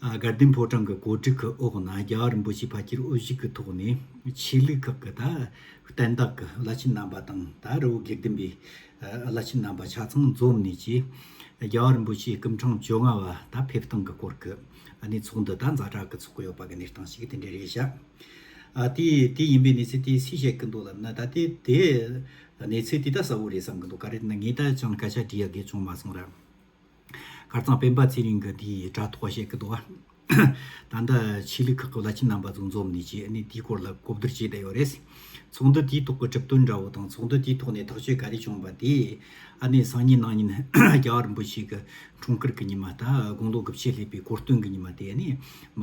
དགའ་ལྡན་ཕོ་བྲང་གི་གོ་སྒྲིག་གི་འོག་ན་རྒྱ་གར་རིན་པོ་ཆེ་ཕ་ཁྱེར་དབུ་བཞུགས་ཀྱི་ཐོག་ནས་ཆོས་ལུགས་ཁག་གི་བསྟན་བདག་གི་བླ་ཆེན་རྣམ་པ་དང་ད་རི་བོ་དགེ་ལྡན་པའི་བླ་ཆེན་རྣམ་པ་ཆ་ཚང་འཛོམས་ནས་ཀྱི་རྒྱ་གར་རིན་པོ་ཆེའི་སྐུ་འཕྲང་བཅོ་ལྔ་བ་ད་ཕེབས་སྟངས་ཀྱི་སྐོར་གྱི་གནས་ཚུགས་འདི་ད་འཛའ་དྲག་གི་ཚོགས་ཡོད་པ་གྱི་གནས་སྟངས་ཤིག་དེ་འདྲ་རེད་ཤག་དེ་དེ་ཡིན་པའི་གནས་ཚུལ་དེ་སུས་བཤད་ཀྱི་འདུག་ལབ་ན་ད་དེ་དེ་གནས་ཚུལ་དེ་ད་གསལ་བོ་རེད་བསམ་གྱི་འདུག་ག་རེ་ན་ངས་ད་ཅང་སྐད་ཆ་འདྲི་ཡག་གི་བྱུང་མ་སོང་ར། དཀར་གཙང་སྤེན་པ་ཚེ་རིང་གི་དེའི་དྲ་ཐོག་བཤད་ཀི་འདུག་ཨ། ད་ལྟ་ཆོས་ལུགས་ཁག་གི་བླ་ཆེན་རྣམ་པ་ཚོ་འཛོམས་ནས་ཆོས་གནས་དེའི་སྐོར་ལ་གོ་བསྡུར་བྱས་བསྡད་ཡོད་རེད། ཚོགས་འདུ་དེའི་ཐོག་གི་གྲུབ་དོན་འདྲ་བོ་དང་ཚོགས་འདུ་དེའི་ཐོག་ནས་ཐག་གཅོད་ག་རེ་བྱུང་བ་དེ། ཨ་ནེ་སང་ཉིན་གནངས་ཉིན་རྒྱ་གར་རིན་པོ་ཆེ་གི་འཁྲུངས་སྐར་གི་ཉི་མ་དང་དགུང་ལོ་དགུ་བཅུ་སླེབས་པའི་གོ་སྟོན་གི་ཉི་མ་དེ་ཨ་ནེ་མ།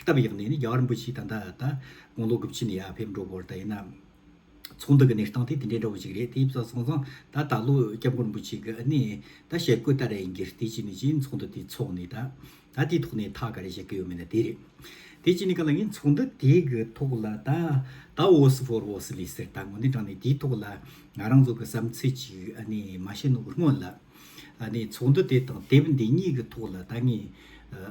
སྟབས་ཡག་ནི་ནི་རྒྱ་གར་འབུ་གཅིག་ད་ད་ད་དགུང་ལོ་དགུ་བཅུ་ནས་ཡ་ཕེབས་འགྲོ་དགོས་ད་ཡིན་ན། ཚོང་འདུ་གི་གནས་སྟངས་དེ་དེ་འདྲའི་འདྲ་བོ་ཅིག་རེད་དེ་བཟང་བཟང་བཟང་ད་ད་ལོ་སྐྱབས་མགོན་འབུ་གཅིག་གི་ནི་ད་ཞལ་བཀོད་ད་རེ་ཡིན་གྱིས་དེ་གཅིག་ནི་གཅིག་ཡིན་ཚོང་འདུ་དེ་ཚོགས་ནི་ད་ད་དེའི་ཐོག་ནས་ཐག་ག་རེ་བཞེས་ཀྱི་ཡོད་མེད་ན་དེ་རེད། དེ་གཅིག་ནི་ག་ལ་ཡིན་ཚོང་འདུ་དེ་གི་ཐོག་ལ་ད་ད་ཨོ་སི་བྷོར་ཨོ་སི་ལི་ཟེར་ད་ངོ་ནས་དྲངས་ནས་དེའི་ཐོག་ལ་ང་རང་ཚོ་གི་བསམ་ཚུལ་ཅིག་ནི་མ་བཤད་ནོར་སྔོན་ལ་ནི་ཚོགས་འདུ་དེ་དང་དེབ་འདི་གཉིས་གི་ཐོག་ལ་ད་ངས།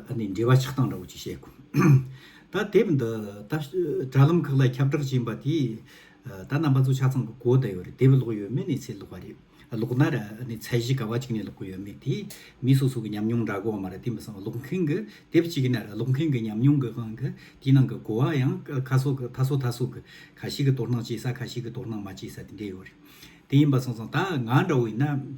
ཨ་ནི་འབྲེལ་བ་ཆགས་སྟངས་འདྲ་བོ་ཅིག་བཤད་དགོས། ད་དེབ་འདི་ད་དྲ་ལམ་ཁག་ལ་ཁྱབ་བསྒྲགས་བྱས་པ་དེས་ད་རྣམ་པ་ཚོ་ཆ་ཚང་གི་གོ་བསྡད་ཡོད་རེད་དེབ་ཀློག་ཡོད་མི་ནས་ཚེ་ཀློག་པ་རེད། ཀློག་ན་ར་ཨ་ནི་ཚད་གཞི་ག་བ་ཅིག་ནས་ཀློག་གི་ཡོད་མེད་དེས་མི་སོ་སོ་གི་ཉམས་མྱོང་འདྲ་གོ་བ་མ་རེད་དེ་མི་སང་བ་ཀློག་མཁན་གི་དེབ་གཅིག་ན་ར་ཀློག་མཁན་གི་ཉམས་མྱོང་གི་ཁང་གི་དེའི་ནང་གི་གོ་བ་ཡང་ཁ་སོ་ཁ་སོ་ཐ་སོ་གི་ཁ་ཤིག་གི་དོ་སྣང་བྱེད་ས་ཁ་ཤིག་གི་དོ་སྣང་མ་བྱེད་ས་དེ་འདྲ་ཡོད་རེད་དེ་ཡིན་པ་སང་སང་ད་ང་འདྲ་བོ་ཡིན་ན།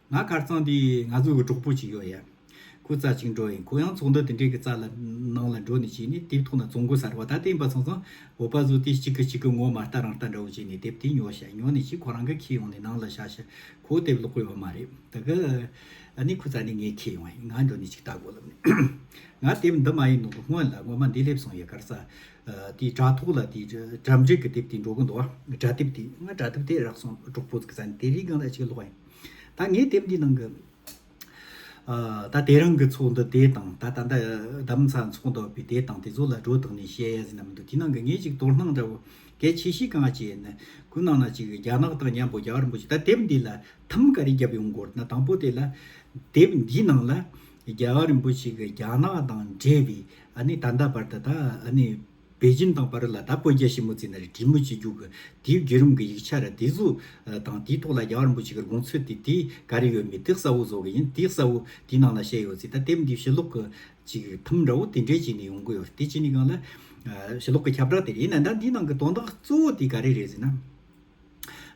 ང་གར་གཙང་འདི་ང་ཚོ་གི་གྲོགས་པོ་ཅིག་ཡོད་ཡ། ཁོ་རྩ་ཆེན་འགྲོ་ཡིན་ཁོ་ཡང་ཚོགས་འདུ་དེ་འདྲའི་གི་རྩ་ལ་ནང་ལ་འགྲོ་ནས་བྱས་ནས་དེབ་ཐོག་ན་བཙོང་གོ་ཟེར་བ་ད་ལྟའི་འབའ་ཚང་ཚང་བོད་པ་ཚོ་དེ་གཅིག་གི་གཅིག་གི་ངོ་མ་ལྟ་རང་ལྟ་འདྲ་བོ་བྱས་ནས་དེབ་དེ་ཉོ་ཞེ་ཉོ་ནས་ཅིག་ཁོ་རང་གི་ཁྱེར་ཡོང་ནས་ནང་ལ་བཞག་ཞེ་ཁོ་དེབ་ཀློག་གོ་ཡོད་མ་རེད་ད་གི། ཨ་ནི་ཁོ་རྩ་ནས་ངའི་ཁྱེར་ཡོང་ཡིན་ང་འགྲོ་ནས་ཅིག་ལྟ་དགོས་ལབ་ནས། ང་དེབ་འདི་མ་ཡིན་ནོ་གི་སྔོན་ལ་ངོ་མ་འདི་སླེབས་སོང་ཡ་གར་རྩ། དེའི་དྲ་ཐོག་ལ་དེའི་གྲབས་འབྲིག་གི་དེབ་དེ་འགྲོ་གི་འདུག་ཨ། དྲ་དེབ་དེ་ང་དྲ་དེབ་དེ་རག་སོང་གྲོགས་པོ་ཚོ་གི་རྩ་ནས་དེ་རིགས་གང་ལ་ཅིག་ཀློག་ཡིན། ད་ངས་དེབ་འདིའི་ནང་གི་ད་དེ་རིང་གི་ཚོགས་འདུ་དེ་དང་ད་ད་ལྟ་གདམ་ཚ་འཚོགས་འདུག་པའི་དེ་དང་དེ་ཚོ་ལ་སྒྲོ་བཏགས་ནས་བཤད་ཡ་ཟིན་ན་མི་འདུག་དེ་ནང་གི་ངས་གཅིག་དོར་སྣང་འདྲ་བོ་གལ་ཆེ་ཤོས་གང་བྱས་ཡིན་ན་གུ་ནང་ན་གཅིག་རྒྱ་ནག་དང་མཉམ་པོ་རྒྱ་རིན་པོ་ཆེ་ད་དེབ་འདི་ལ་ཐམ་ག་རེ་བརྒྱབ་ཡོང་དགོས་ན་དང་པོ་དེ་ལ་དེབ་འདིའི་ནང་ལ་རྒྱ་རིན་པོ་ཆེ་གི་རྒྱ་ནག་དང་འབྲེལ་བའི་ཨ་ནི་ད་ལྟ་བར་དུ་ད་ཨ་ནི། པེ་ཅིན་དང་པར་ལ་དྭགས་བོད་རྒྱ་ཞི་མོལ་རྩིས་ན་རི་བྲིས་མོ་ཆེ་རྒྱུག་གི་དེའི་བརྒྱུད་རིམ་གྱི་ཡིག་ཆ་རེད་དེ་གཟུགས་དང་དེའི་ཐོག་ལ་རྒྱ་གར་འབོ་ཆེ་གི་དགོངས་ཚུལ་དེ་དེ་ག་རེ་ཡོད་མེད་དེ་གསལ་བོ་བཟོ་གི་ཡིན་དེ་གསལ་བོ་དེའི་ནང་ལ་བཤད་ཡོད་རྩིས་ད་དེབ་འདིའི་ཞི་ལོག་གི་ཅིག་ཐུམ་འདྲ་བོ་དེ་འདྲའི་ཅིག་ནས་ཡོང་གི་ཡོད་རེད་དེ་ཅིག་ནས་གང་ལ། ཞི་ལོག་གི་ཁྱབ་བསྒྲགས་དེ་རེད་ཡིན་ན་ད་འདིའི་ནང་གི་དོན་དག་གཙོ་བོ་དེ་ག་རེ་རེད་ཟེར་ན།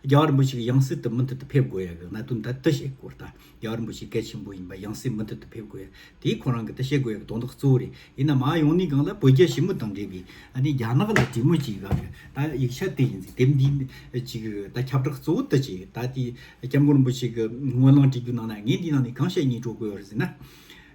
རྒྱ་གར་རིན་པོ་ཆེ་གི་ཡང་སྲིད་དུ་མུ་མཐུད་དུ་ཕེབས་དགོས་ཡ་གི་གནད་དོན་དེ་བསྟི་ཞེས་སྐོར་ལྟ། རྒྱ་གར་རིན་པོ་ཆེ་གལ་ཆེན་པོ་ཡིན་པ་ཡང་སྲིད་མུ་མཐུད་དུ་ཕེབས་དགོས་ཡ་དེའི་ཁོ་རང་གི་བསྟི་ཞེས་དགོས་ཡ་གི་དོན་དག་གཙོ་བོ་རེད་ཡིན་ནམ་མ་ཡོང་ནི་གང་ལ་བོད་རྒྱ་ཞི་མོ་དང་འབྲེལ་གི་ཨ་ནི་རྒྱ་ནག་ལ་གྲོས་མོལ་བྱེད་གི་ག་ལ་ཡོད་ད་ཡིག་ཆ་དེ་ཡིན་ཟེར་དེབ་འདི་གཅིག་གི་ད་ཁྱབ་བསྒྲགས་གཙོ་བོ་བསྟི་བྱས་ད་དེ་སྐྱབས་མགོན་རིན་པོ་ཆེ་གི་དངོས་བླངས་བྲིས་རྒྱུ་ནང་ན་ངས་འདི་ནང་ནས་གང་བཤད་གཉིས་སྒྲོག་དགོས་ཡོད་རེད་ཟེར་ན།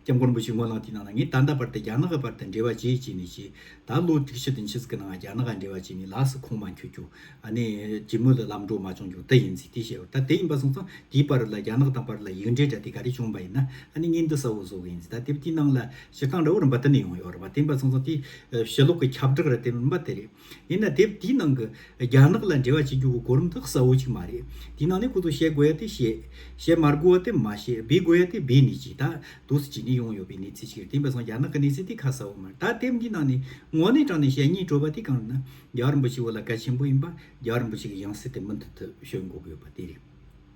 སྐྱབས་མགོན་པོ་ཆེའི་དངོས་གནང་དེའི་ནང་ན་ངས་ད་ལྟ་བར་དུ་རྒྱ་ནག་བར་དུ་འབྲེལ་བ་བྱས་བྱས་ནས་བྱས། ད་ལོ་དུས་ཕྱིས་དུ་ཕྱིས་ཀྱི་ནང་རྒྱ་ནག་འབྲེལ་བ་བྱས་ནས་ལགས་སུ་ཁུངས་མ་འཁྱོལ་ཀྱང་ཨ་ནེ་རྗེ་མོ་ལ་ལམ་འགྲོ་མ་བྱུང་ཀྱང་དེ་ཡིན་ཟིག་དེ་བྱས་པར་ད་དེ་ཡིན་པ་སོང་ཙང་དེའི་བར་ལ་རྒྱ་ནག་དང་བར་ལ་ཡིག་འབྲེལ་འདྲ་དེ་ག་རེ་བྱུང་བ་ཡིན་ན་ཨ་ནེ་གཉིས་འདི་ས་བོ་བཟོ་གི་ཡིན་ཟིག་ད་དེབ་དེའི་ནང་ལ་སྤྱིར་བཏང་འདྲ་བོ་རིམ་པ་དེ་ནས་ཡོང་ཡོད་རེད་བ་དེ་ཡིན་པ་སོང་ཙང་དེའི་ཞལ་སློབ་ཀྱི་ཁྱབ་བསྒྲགས་རེད་དེ་རིམ་པ་དེ་རེད། ཡིན་ན་དེབ་དེའི་ནང་གི་རྒྱ་ནག་ལ་འབྲེལ་བ་བྱེད་རྒྱུ་གོ་གོ་རིམ་དག་གསལ་བོ་ཅིག་མ་རེད། དེའི་ནང་ནས་ཁོ་ཚོ་བཤད་དགོས་ཡ་དེ་བཤད། བཤད་མ་དགོས་ཡ་དེ་མ་བཤད་སྦས་དགོས་ཡ་དེ་སྦས་ནི་ཅིག་ད་དུ་སུ་ཅིག་ནི་ཡོང་ཡོད་པའི་གནས་ཚུལ་ཅིག་རེད་དེ་འབའ་སོང་རྒྱ་ནག་གི་གནས་ཚུལ་དེ་ཁ་གསལ་བོ་མ་རེད་ད་དེབ་འདིའི་ནང་ནས་དངོས་གནས་དྲངས་ནས་བཤད་ཉེས་སྤྲོད་པ་དེ་གང་ཡིན་ན་རྒྱ་གར་འབའ་ཞིག་བོད་ལ་གལ་ཆེན་པོ་ཡིན་པ་རྒྱ་གར་འབའ་ཞིག་གི་ཡང་སྲིད་དེ་མུ་མཐུད་དུ་བྱོན་དགོས་ཀྱི་ཡོད་པ་དེ་རེད།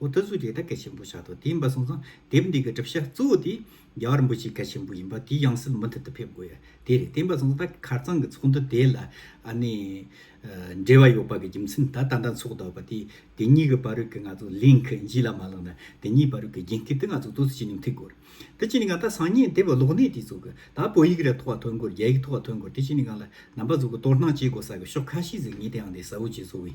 འོ་ད་གཟུགས་དེ་ད་གེ་ཆེན་པོ་ཤ་ཏོག་དེ་འབའ་སོང་ཙང་དེབ་འདི་གི་གྲུབ་ཤ་གཙོ་བོ་དེ་རྒྱ་གར་འབུ་ཆེ་གེ་ཆེན་པོ་ཡིན་པ་དེ་ཡང་སྲིད་མུ་མཐུད་དུ་ཕེབས་དགོས་ཡ་དེ་རེད་དེ་འབའ་སོང་ཙང་ད་གེ་གར་ཙང་གི་ཚོགས་འདུ་དེ་ལ་ཨ་ནི་འབྲེལ་བ་ཡོད་པ་གི་རྒྱུ་མཚན་ད་ད་ལྟ་ཚོགས་འདུ་བ་དེ་དེ་གཉིས་གི་བར་གི་ང་ཚོ་ལིངས་གཞི་ལ་མ་ལངས་ན་དེ་གཉིས་བར་གི་རྒྱན་ཁི་དེ་ང་ཚོ་གཙོ་ཆེ་ནས་མཐུད་དགོས་རེད་དེ་བྱས་ནས་ང་ད་སང་ཉིན་དེབ་གློག་གནས་དེ་ཚོགས་གི་ད་བོད་ཡིག་ར་ཐོག་ཐོན་དགོས་རྒྱ་ཡིག་ཐོག་ཐོན་དགོས་དེ་བྱས་ནས་ང་ལ་རྣམ་པ་ཚོགས་གི་གཏོར་སྣང་བྱེད་དགོས་ས་གི་ཤོག་ཁ་ཤིག་ཟིག་ངེས་དེ་ཡང་དེ་ཟ་འུ་ཅི་བཟོ་འི།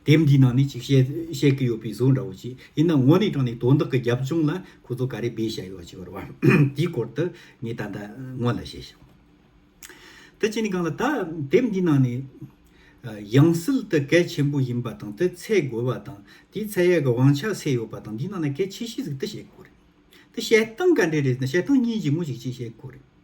དེབ་འདིའི་ནང་ནས་ཅིག་བཤད་ཀྱི་ཡོད་པའི་བཟོ་འདྲ་བོ་ཞིག་ཡིན་ན་དངོས་གནས་དྲང་ནས་དོན་དག་གི་རྒྱབ་ལྗོངས་ལ་ཁོ་ཚོ་ག་རེ་སྦས་བཞག་ཡོད་ཅེས་པར་དེའི་སྐོར་དུ་ངས་ད་ལྟ་སྔོན་ལ་བཤད་ཤིང། དེ་བྱས་ནས་གང་ལ་ད་དེབ་འདིའི་ནང་ནས་ཡང་སྲིད་དུ་གལ་ཆེན་པོ་ཡིན་པ་དང་དེ་ཚད་དགོས་པ་དང་དེའི་ཚད་ཡག་གི་དབང་ཆ་སེ་ཡོད་པ་དང་འདིའི་ནང་ན་གལ་ཆེ་ཤོས་ཟིག་དེ་བཤད་དགོས་རེད་དེ་བཤད་སྟངས་ག་འདྲས་རེད་ཟེར་ན་བཤད་སྟངས་གཉིས་ཀྱི་དངོས་ཤིག་ཅིག་བཤད་དགོས་རེད།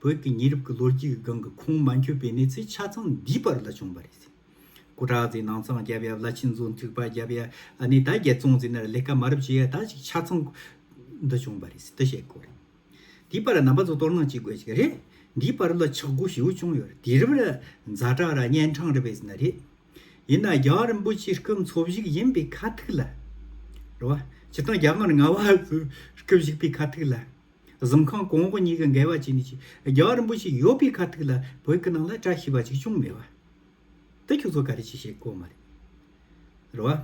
བོད་ཀྱི་ཉེ་རབས་ཀྱི་ལོ་རྒྱུས་ཀྱི་སྒང་གི་ཁུངས་མ་འཁྱོལ་པའི་གནས་ཚུལ་ཆ་ཚང་འདིའི་བར་ལ་བྱུང་བ་རེད། སྐུ་དྲག་ཚོས་ནང་ཚང་རྒྱབ་ཡ་བླ་ཆེན་ཚོས་མཐུག་པ་རྒྱབ་ཡ་ནས་ད་རྒྱལ་བཙོང་ཟེར་ན་ལས་ཀ་མ་རབ་བྱེད་ཡ་ད་ཅིག་ཆ་ཚང། འདི་བྱུང་བ་རེད་འདི་བྱེད་དགོས་རེད། དེའི་བར་ལ་ནང་པ་ཚོས་གཏོར་ནང་བྱེད་དགོས་ཅིག་རེད། འདིའི་བར་ལ་ཆག་སྒོ་ཞེ་བོ་བྱུང་ཡོད་རེད་དེ་རིང་རྫ་དྲག་ར་གཉན་འཕྲང་རེད་བས་ཟེར་ན་རེད། ཡིན་ན་རྒྱ་རིན་པོ་ཆེ་སྐུ་འཚོ་བཞུགས་ཡིན་པའི་ཁ་ཐུག་ལ། རེད་བ། སྤྱིར་བཏང་རྒྱ་དམར་ང་བ་ཚོས་སྐུ་བཞུགས་པའི་ཁ་ཐུག་ལ། གཟིམ་ཁང་གོང་འོག་གཉིས་ཀ་འགལ་བ་བྱས་ནས་ཀྱི་རྒྱལ་བ་རིན་པོ་ཆེ་ཡོད་པའི་ཁ་ཐུག་ལ་བོད་ཀྱི་ནང་ལ་བཀྲ་ཤིས་པ་གཅིག་བྱུང་མེད་པ་འདི་ཁྱོད་ཚོ་ག་རེ་བྱས་བྱས་གོ་མ་རེད་བ།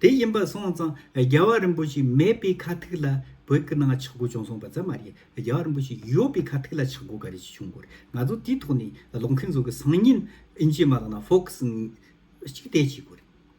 དེ་ཡིན་པ་སོང་ཙང་རྒྱལ་བ་རིན་པོ་ཆེ་མེད་པའི་ཁ་ཐུག་ལ་བོད་ཀྱི་ནང་ཆག་སྒོ་བྱུང་སོང་པ་ཙམ་མ་རེད་རྒྱལ་བ་རིན་པོ་ཆེ་ཡོད་པའི་ཁ་ཐུག་ལ་ཆག་སྒོ་ག་རེ་བྱས་བྱུང་གོ་རེད་ང་ཚོ་དེའི་ཐོག་ནས་ལོག་མཁན་ཚོ་གི་སང་ཉིན་ཨིན་ཇིའི་མ་ལག་ནང་ཧྥོ་ཁི་སི་གཅིག་བལྟས་བྱས་གོ་རེད།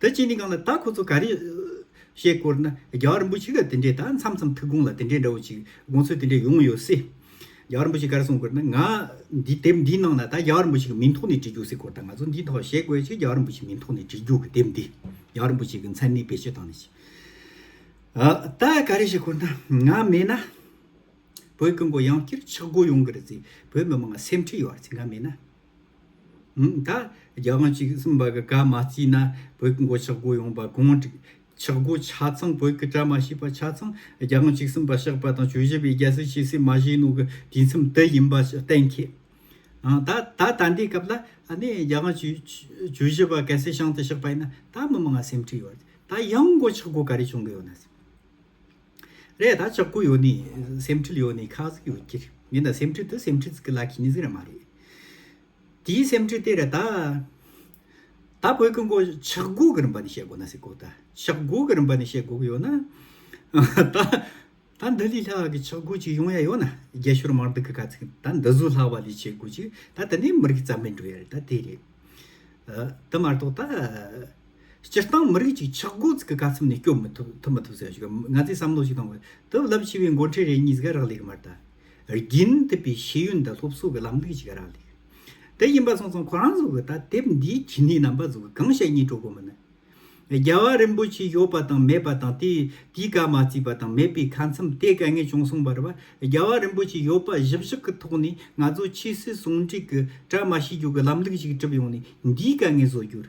དེ་ཅི་ནི་གང་ལ་ད་ཁོ་ཚོ་ག་རེ། ཞེས་བསྐོར་ན་རྒྱ་གར་རིན་པོ་ཆེ་ག་དེ་འདྲས་ད་མཚམས་མཚམས་ཐུགས་དགོངས་ལ་དེ་འདྲས་འདྲ་བོ་ཅིག་དགོངས་ཚུལ་དེ་འདྲས་ཡོང་ཡོད་སྲིད། རྒྱ་གར་རིན་པོ་ཆེ་ག་རེ་གསུངས་བསྐོར་ན་ང། འདི་དེབ་འདིའི་ནང་ན་ད་རྒྱ་གར་རིན་པོ་ཆེ་གི་མིང་ཐོག་ནས་བྲིས་རྒྱུགས་སྲིད་བསྐོར་ད་ང་ཚོ་འདིའི་ཐོག་ཞེས་བཀོད་ཕྱིར་རྒྱ་གར་རིན་པོ་ཆེ་མིང་ཐོག་ནས་བྲིས་རྒྱུགས་ཀྱི་དེབ་འདི་རྒྱ་གར་རིན་པོ་ཆེ་གི་མཚན་ནི་བེད་སྤྱོད་བཏང་ནས་ཅི། ཨ། ད་ག་རེ་ཞེས་བསྐོར་ན་ང་མེད་ན། བོད་ཀྱི་མགོ་ཡང་བསྐྱིར་ཕྱག་སྒོ་ཡོང་གི་རེད་ཚེ་བོད་མི་མང་སེམས་ཁྲལ་ཡོང་བ་རེད་ཚེ་ང་མེད་ན། ད་རྒྱ་དབང་གཅིག་གསུམ་པ་གི་བཀའ་མ་བརྩིས་ན་བོད་ཀྱི་མགོ་ཆག་སྒོ་ཡོང་པ་གང་འགྲིག། ཆག་སྒོ་ཆ་ཚང་བོད་ཀྱི་གྲ་མ་ཤེས་པ་ཆ་ཚང་རྒྱ་དབང་གཅིག་གསུམ་པ་བཤགས་པ་དང་བྱོས་བཞི་པའི་རྒྱལ་སྲིད་ཕྱི་སྲིད་མ་བཞེས་ནོ་གི་དུས་མཚམས་དེ་ཡིན་པ་གཏན་འཁེལ། ད་ད་ལྟའི་སྐབས་ལ་ནི་རྒྱ་དབང་བྱོས་བཞི་པ་གལ་སྲིད་བྱང་དུ་བཤགས་པ་ཡིན་ན་ད་མི་མང་ང་སེམས་ཁྲིད་ཡོད། ད་ཡང་མགོ་ཆག་སྒོ་ག་རེ་བྱུང་གི་ཡོད་ན། རེད་ད་ཅག་གུ་ཡོ་ནི་སེམས་ཁྲིད་ཡོ་ནི་ཁག་གཟིགས་ཡོ་ཀྱི་རེད་ངན་ད་སེམས་ཁྲིད་དུ་སེམས་ཁྲིད་གི་ལ་ཁི་ནི་ཟིག་ར་མ་རེད་དེའི་སེམས་ཁྲིད་དེ་རེད་ད་ད་བོད་གི་མགོ་ཆག་གུ་གི་རིན་པ་ནི་བཤད་དགོ་ན་ཟིག་གོ་ད་ཆག་གུ་གི་རིན་པ་ནི་བཤད་དགོ་གི་ཡོ་ན་ད་ད་འདི་ལི་ལྷག་གི་ཆག་གུ་ཅིག་ཡོང་ཡ་ཡོ་ན་རྒྱ་ཤོར་མར་འདི་གི་ག་ཚིག་ད་འདི་བཟོ་ལྷག་བ་ལི་བྱེད་དགོ་ཅིག་ད་ད་ནི་མི་རིགས་རྩ་མེད་འགྲོ་ཡ་རེད་ད་དེ་རེད་དེ་མ་གཏོགས་ད། སྤྱིར་བཏང་མི་རིགས་གཅིག་ཆགས་འགོ་འཛུགས་ཀྱི་ག་ཚོད་ནས་སྐྱོབ་མི་ཐུབ་ཐུབ་མ་ཐུབ་སོགས་ཞིག་གམ་ང་ཚོས་བསམ་བློ་ཞིག་གཏོང་དགོས་དུས་རླབས་ཆེ་བའི་འགོ་ཁྲིད་རེ་གཉིས་ཀ་རག་ལས་ཀྱི་མ་རེད། རྒྱུན་མཐུད་པའི་ཤེས་ཡོན་དང་སློབ་གསོ་གི་ལམ་ལུགས་ཞིག་ག་རག་ལས། དེ་ཡིན་པ་སོང་སོང་ཁོ་རང་ཚོ་གི་ད་དེབ་འདིའི་ཁྱིམ་མིའི་རྣམ་པ་ཚོ་གི་གང་བཤད་གཉིས་གྲོགས་པོ་མིན་ན། རྒྱལ་བ་རིན་པོ་ཆེའི་ཡོད་པ་དང་མེད་པ་དང་དེས་དེའི་བཀའ་མ་བརྩིས་པ་དང་མེད་པའི་ཁ་མཚམས་དེ་ག་ངས་ཅུང་སོང་བ་རེད་བ། རྒྱལ་བ་རིན་པོ་ཆེའི་ཡོད་པ་བཞི་བཞག་གི་ཐོག་ནས་ང་ཚོ་ཆོས་སྲིད་ཟུང་འབྲེལ་གྱི་གྲ་མ་ཤེས་རྒྱུ་གི་ལམ་ལུགས་ཞིག་གྲུབ་ཡོང་ནས་འདིའི་ག་ངས་བཟོ་རྒྱུར།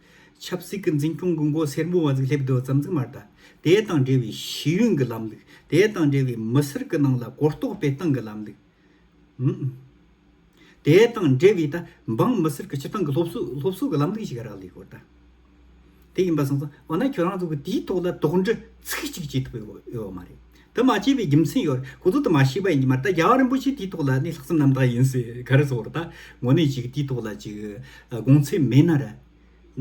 ཆབ་སྲིད་ཀྱི་འཛིན་སྐྱོང་གི་མགོ་སེར་མོ་བ་ཟིག་སླེབས་འདུག་རྩམ་རྩི་མར་དང། དེ་དང་འབྲེལ་བའི་ཤེས་ཡོན་གྱི་ལམ་ལུགས། དེ་དང་འབྲེལ་བའི་མི་སེར་གྱི་ནང་ལ་གོ་རྟོགས་སྤེལ་སྟངས་ཀྱི་ལམ་ལུགས། དེ་དང་འབྲེལ་བའི་ད་འབངས་མི་སེར་གྱི་སྤྱིར་བཏང་གི་སློབ་གསོ་གི་ལམ་ལུགས་ཤིག་རག་ལས་ཡོད་ད། དེ་ཡིན་པ་སོང་ཙང་འོ་ན་ཁྱོད་རང་ཚོ་གིས་དེའི་ཐོག་ལ་དོགས་འདྲི་ཚིག་གཅིག་བྱེད་ཐུབ་ཡོད་མ་རེད། དུ་མ་སྐྱེས་པའི་རྒྱུ་མཚན་ཡོད་རེད་གོ། དུ་དུ་མ་ཤེས་པ་ཡིན་གྱི་མ་རེད་ད་རྒྱལ་བ་རིན་པོ་ཆེ་དེའི་ཐོག་ལ་ནི་ལྷག་བསམ་རྣམ་དག་ཡིན་སྲིད་ག་རེ་ཟོར་ད་ངོ་ནས་ཅིག་དེའི་ཐོག་ལ་ཅིག་དགོངས་ཚད་མེད་ན་རེད།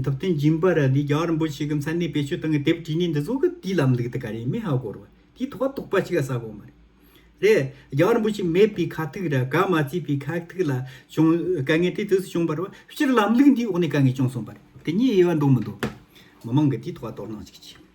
ཐུབ་བསྟན་སྦྱིན་པ་རེད་འདི་རྒྱལ་བ་རིན་པོ་ཆེ་གི་མཚན་གནས་བེད་སྤྱོད་བཏང་གི་དེབ་བྲིས་ནས་འདི་བཟོ་གི་དེའི་ལམ་ལུགས་དེ་ག་རེ་མེད་ཧ་གོ་རོ། དེའི་ཐོག་ལ་དོགས་པ་ཅིག་ལ་ཟ་གོ་མ་རེད། རེད་རྒྱལ་བ་རིན་པོ་ཆེ་མེད་པའི་ཁ་ཐུག་རེད་ག་མ་བརྩིས་པའི་ཁག་ཐུག་ལ་བྱུང་དཀའ་ངལ་དེ་དུས་སུ་བྱུང་པ་རེད་བ་སྤྱིར་ལམ་ལུགས་འདིའི་འོག་ནས་དཀའ་ངལ་བྱུང་སོང་པ་རེད་དེ་གཉིས་དབྱེ་བ་འདུག་མི་འདུག་མི་མང་གི་དེའི་ཐོག་ལ་དོ་སྣང་ཅིག་བྱེད།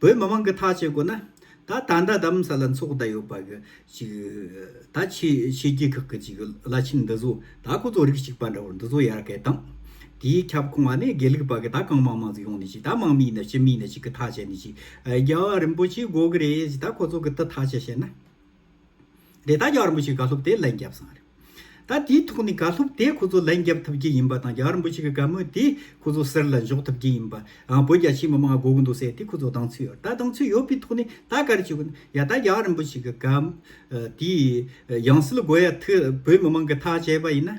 བོད་མི་མང་གི་ཐག་བཅད་དགོས་ན། ད་ད་ཟླ་དམ་བསལ་ལ་འཚོགས་ད་ཡོད་པ་གི་ཅིག། ད་ཆེ་ཆེ་རྒྱལ་ཁག་གི་ཅིག་བླ་ཆེན་འདི་ཚོ་ད་ཁོ་ཚོ་རིགས་གཅིག་པ་འདྲ་བོ་འདི་ཚོ་ཡར་སྐད་བཏང། དེའི་ཁྱབ་ཁོང་བ་ནས་དགེ་ལུགས་པ་གི་ད་གང་མང་མང་ཚོ་ཡོང་ནས་ཅིག་ད་མང་མིའི་ནས་སྤྱི་མིའི་ནས་ཅིག་གི་ཐག་བཅད་ནས་ཅིག། རྒྱལ་བ་རིན་པོ་ཆེ་དགོས་གི་རེད་ཅིག་ད་ཁོ་ཚོ་གི་ཏི་ཐག་བཅད་བྱས་ན། དེ་ད་རྒྱ་རིན་པོ་ཆེ་དགའ་ལྷུབ་དེས་ལན་བརྒྱབ་སོང་བ་རེད། ད་དེའི་ཐོག་ནས་དགའ་ལྷུབ་དེས་ཁོ་ཚོ་ལན་བརྒྱབ་ཐུབ་ཀྱི་ཡིན་པ་དང་རྒྱ་རིན་པོ་ཆེ་གི་དགའ་མོས་དེས་ཁོ་ཚོ་གསེར་ལ་འཇོག་ཐུབ་ཀྱི་ཡིན་པ། བོད་རྒྱ་ཆེའི་མི་མང་དགོ་གི་འདུག་ཟེར་ཏེ་ཁོ་ཚོ་སྡང་ཚུལ་ཡོད་ད་སྡང་ཚུལ་ཡོད་པའི་ཐོག་ནས་ད་གར་བྱེད་དགོས་ན་ཡ་ད་རྒྱ་རིན་པོ་ཆེ་གི་དགའ་མོ་དེས་ཡང་སྲིད་དགོས་ཡ་ཐུབ་བོད་མི་མང་གི་ཐག་བཅད་པ་ཡིན་ན།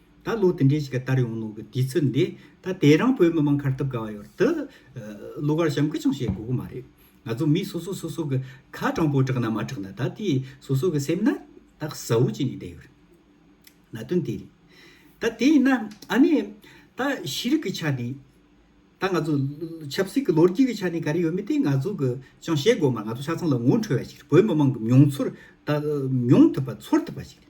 ད་ལོ་དེ་འདྲའི་ཞིག་ག་དར་ཡོང་ནོ་གི་དུས་ཚོད་འདི་ད་དེ་རང་བོད་མི་མང་ཁར་ཐུབ་ག་བ་ཡོད་དུ་གླུ་གར་གཤམ་ཁུ་ཅང་བཤད་དགོས་གི་མ་རེད་ང་ཚོ་མི་སོ་སོ་སོ་སོ་གི་ཁ་དྲང་པོ་དྲག་ན་མ་དྲག་ན་ད་དེ་སོ་སོ་གི་སེམས་ན་ད་བཟའ་བོ་ཅིག་ནས་བསྡད་ཡོད་རེད་ན་དོན་དེ་རེད་ད་དེ་ཡིན་ན་ཨ་ནེ་ད་ཤེས་རིག་གི་ཆ་ནས་ད་ང་ཚོ་ཆབ་སྲིད་གི་ལོ་རྒྱུས་གི་ཆ་ནས་ག་རེ་ཡོད་མེད་དེ་ང་ཚོ་གི་ཅང་བཤད་དགོས་མ་རེད་ང་ཚོ་ཆ་ཚང་ལ་ངོ་འཕྲོད་བ་ཞིག་རེད་བོད་མི་མང་གི་མྱོང་ཚོར་ད་མྱོང་ཐུབ་པ་ཚོར་ཐུབ་པ་ཞིག་རེད།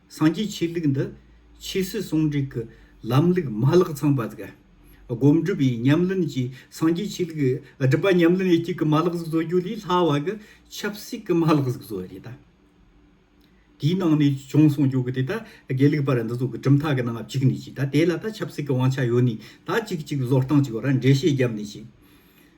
སངས་རྒྱས་ཆོས་ལུགས་འདི་ཆོས་སྲིད་ཟུང་འབྲེལ་གྱི་ལམ་ལུགས་མ་ལག་ཚང་པ་དགའ། སྒོམ་སྒྲུབ་པའི་ཉམས་ལེན་གྱིས་སངས་རྒྱས་ཆོས་ལུགས་སྒྲུབ་པ་ཉམས་ལེན་དབྱེ་གཅིག་གི་མ་ལག་ཟིག་བཟོ་རྒྱུ་ལས་སླ་བ་གི་ཆབ་སྲིད་ཀྱི་མ་ལག་ཟིག་བཟོ་བ་རེད་ད། དེའི་ནང་ནས་བྱུང་སོང་རྒྱུ་གི་དེ་ད་དགེ་ལུགས་པར་འདི་ཚོ་གི་གྲུབ་མཐའ་གི་ནང་བཅུག་ནས་ཅིག་ད་དེ་ལ་ད་ཆབ་སྲིད་ཀྱི་དབང་ཆ་ཡོད་ནས་ད་ཅིག་ཅིག་བཟོ་སྟངས་ཅིག་ཡོད་ར་འགྲེལ་བཤད་བརྒྱབ་ནས་ཅིག་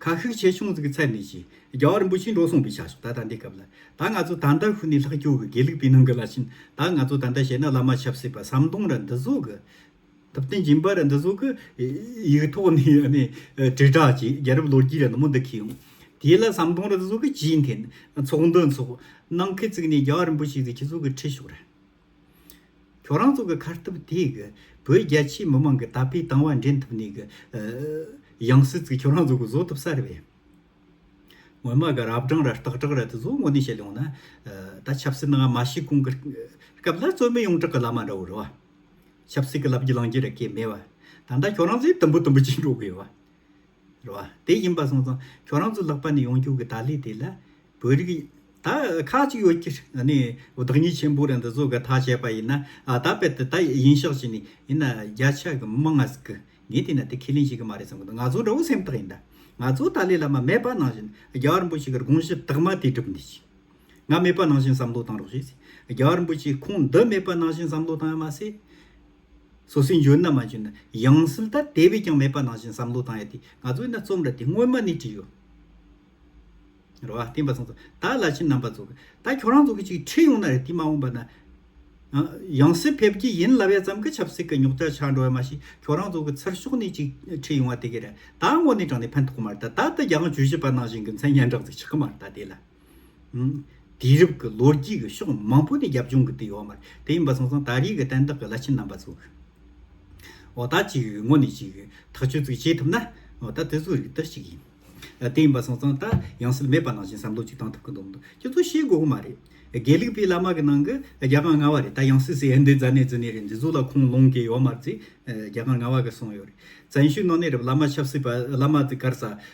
ཁ་ཤུགས་ཆེ་ཆུང་གི་ཚད་མེད་ཅིང་རྒྱ་བ་རིན་པོ་ཆེས་འགྲོ་གསུངས་པའི་ཆ་ཞིག་ད་ལྟ་འདི་སྐབས་ལ་ད་ང་ཚོ་ད་ལྟར་ཧུ་ནི་ལྷག་སྐྱོ་གི་དགེ་ལུགས་པའི་ནང་གི་ལ་ཕྱིན་ད་ང་ཚོ་ད་ལྟ་བྱས་ན་བླ་མ་ཆབ་སྲིད་པ་ཟམ་གདོང་ར་འདི་བཟོ་གི་ཐུབ་བསྟན་སྦྱིན་པ་ར་འདི་བཟོ་གི་ཡིག་ཐོག་ནས་ཡང་ནས་དྲིལ་བསྒྲགས་ཀྱིས་རྒྱལ་རབས་ལོ་རྒྱུས་ར་ནུ་མོ་འདི་ཁེལ་ཡོང་དེ་ལ་ཟམ་གདོང་ར་འདི་བཟོ་གི་ཇིའི་འཐེན་ཚོགས་འདུ་འཚོགས་གནང་ཁེལ་བཙུགས་ནས་རྒྱ་བ་རིན་པོ་ཆེས་གི་ཁྱི་ཚོ་གི་ཁྲི་ཤོག་ར། ཁྱོད་རང་ཚོ་གི་ཁར་ཐུབ་དེ་གི་བོད་རྒྱ་ཆེའི་མི་མང་གི་ད་ཕའི་དང་བ་འདྲེན་ཐུབ་ནས་གི་ཡང་སྲིད་ཚིག་ཁྱོད་རང་ཚོ་གི་བཟོ་ཐུབ་ས་རེད་བས། ངོ་མ་གི་རབ་དྲང་ར་སྟག་དྲག་ར་དེ་ཚོ་དངོས་གནས་བཤད་ཡོང་ན་ད་ཆབ་སྲིད་ནང་མ་ཤི་གོང་གི་སྐབས་ལ་རྩོད་མེད་ཡོངས་གྲགས་གི་བླ་མ་འདྲ་བོ་རེད་བ། ཆབ་སྲིད་གི་ལབ་རྒྱུ་ལང་རྒྱུ་ར་སྐད་མེད་བ། ད་ད་ཁྱོད་རང་ཚོས་དུམ་བུ་དུམ་བུ་བྱེད་འགྲོ་གི་ཡོད་བ། རེད་བ། དེ་ཡིན་པ་སོང་ཙང་ཁྱོད་རང་ཚོ་ལག་པ་ནས་ཡོང་རྒྱུ་གི་ད་ལས་དེ་ལ་བོད་རིགས་ད་ཁག་ཅིག་ཡོད་ཀྱི་རེད་ནའི་བདག་ཉིད་ཆེན་པོ་རེད་འདི་ཚོ་གི་ད་བཤད་པ་ཡིན་ན་ད་དཔེ་དེ་ད་ཡིན་ཤག་བྱས་ནས་ཡིན་ན་རྒྱ་ཆ་གི་མི་ང་ཟིག་གི་ངས་དེ་ན་དེ་ཁས་ལེན་བྱེད་གི་མ་རེད་བསམ་གི་འདུག་ང་ཚོ་འདྲ་བོ་སེམས་ཐག་ཡིན་ད་ང་ཚོ་ད་ལས་ལ་མ་མེད་པ་ནང་བཞིན་རྒྱ་བ་རིན་པོ་ཆེ་གི་དགོངས་གཞི་དག་མ་དེ་སྒྲུབ་འདི་ཅིག་ང་མེད་པ་ནང་བཞིན་བསམ་བློ་བཏང་རོགས་བྱོས་ཟེར་རྒྱ་བ་རིན་པོ་ཆེ་ཁོང་འདི་མེད་པ་ནང་བཞིན་བསམ་བློ་བཏང་ཡ་མ་ཟེར། སོ་སོའི་འཇོན་ན་མ་འཇོན་ན་ཡང་སྲིད་ད་དེ་བས་ཀྱང་མེད་པ་ནང་བཞིན་བསམ་བློ་བཏང་ཡོད་དེ་ང་ཚོས་ན་རྩོམ་ར་དེ་སྔོན་མ་ནས་བྲིས་ཡོད། རེད་བ། བསྟན་པ་སངས་སོ་ད་བླ་ཆེན་རྣམ་པ་ཚོ་ད་ཁྱོད་རང་ཚོ་གི་ཅིག་ཁྲིད་ཡོང་ན་རེད་དེ་མ་འོངས་པ་ན་ཡང་སྲིད་ཕེབས་ཀྱི་ཡིན་ལབ་ཡ་ཙམ་གི་ཆབ་སྲིད་གི་རྙོག་དྲ་ཆགས་འགྲོ་ཡ་མ་ཤི་ཁྱོད་རང་ཚོ་གི་ཚུར་ཤོག་ནས་ཅིག་ཁྲིད་ཡོང་བ་དེ་གི་རེད་ད་དངོས་གནས་དྲང་ནས་ཕན་ཐོག་མ་རེད་ད་ད་ད་རྒྱ་དབང་ཇུས་བཞི་པ་ནང་བཞིན་གི་མཚན་སྙན་གྲགས་ཚིག་ཆགས་མ་རེད་ད་དེ་ལ། དུས་རབས་ཀྱི་ལོ་རྒྱུས་ཀྱི་ཕྱོགས་མང་པོ་ནས་རྒྱབ་ལྗོངས་ཀྱི་དུས་ཡོད་མ་རེད་དེ་ཡིན་པ་སོང་ཙང་ད་རེས་ཀྱི་བསྟན་བདག་གི་བླ་ཆེན་རྣམ་པ་ཚོ་འོ་ད་ཅིག་ངོ་ནས་ཅིག་ཐག་གཅོད་ཙིག་བྱེད་ཐུབ་ན་འོ་ད་དེ་ཚོ་རིགས་དེ་ཅིག་ཡིན་དེ་ཡིན་པ་སོང་ཙང་ད་ཡང་སེལ་མེད་པ་ནང་བཞིན་བསམ་བློ་ཅིག་བཏང་ཐུབ་ཀྱི་འདུག་འདུག་ཁྱོད་ཚོ་ཤེས་དགོས་ཀྱི་མ་རེད་དགེ་ལུགས་པའི་བླ་མ་གི་ནང་གི་རྒྱ་གང་ང་བ་རེད་ད་ཡང་སྲིད་སྲི་ཨེ་འདི་རྫ་ནས་རྫི་ནས་རེད་འདི་ཚོ་ལ་ཁུངས་ལུང་གི་ཡོད་མ་རེད་རྒྱ་གང་ང་བ་གི་སོང་ཡོད་རེད་བཙན་བྱོལ་ནང་ནས་རེད་བླ་མ་ཆབ་སྲིད་པ་བླ་མ་དེ་གར་ས་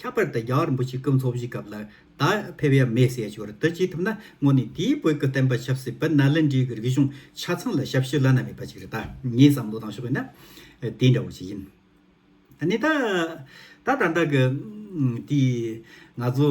ཁྱབ་པར་དུ་རྒྱ་གར་འབུ་གཅིག་གི་འཚོ་བཞིའི་སྐབས་ལ་ད་ཕེབས་ཡ་མེད་ཟེར་ཞོར་དུ་ཅི་ཐུབ་ན་སྔོན་ནས་དེའི་བོད་ཀྱི་བསྟན་པ་ཆབ་སྲིད་བོད་ནཱ་ལེནྡྲའི་རིག་གཞུང་ཆ་ཚང་ལ་ཞབས་ཕྱི་བླ་ན་མེད་པ་ཅིག་རེད་ད་ངས་བསམ་བློ་བཏང་ཞོག་ཡིན་ན་དེ་འདྲ་བོ་ཞིག་ཡིན། ནི་ད། ད་ད་ལྟ་གི་དེའི་ང་ཚོ།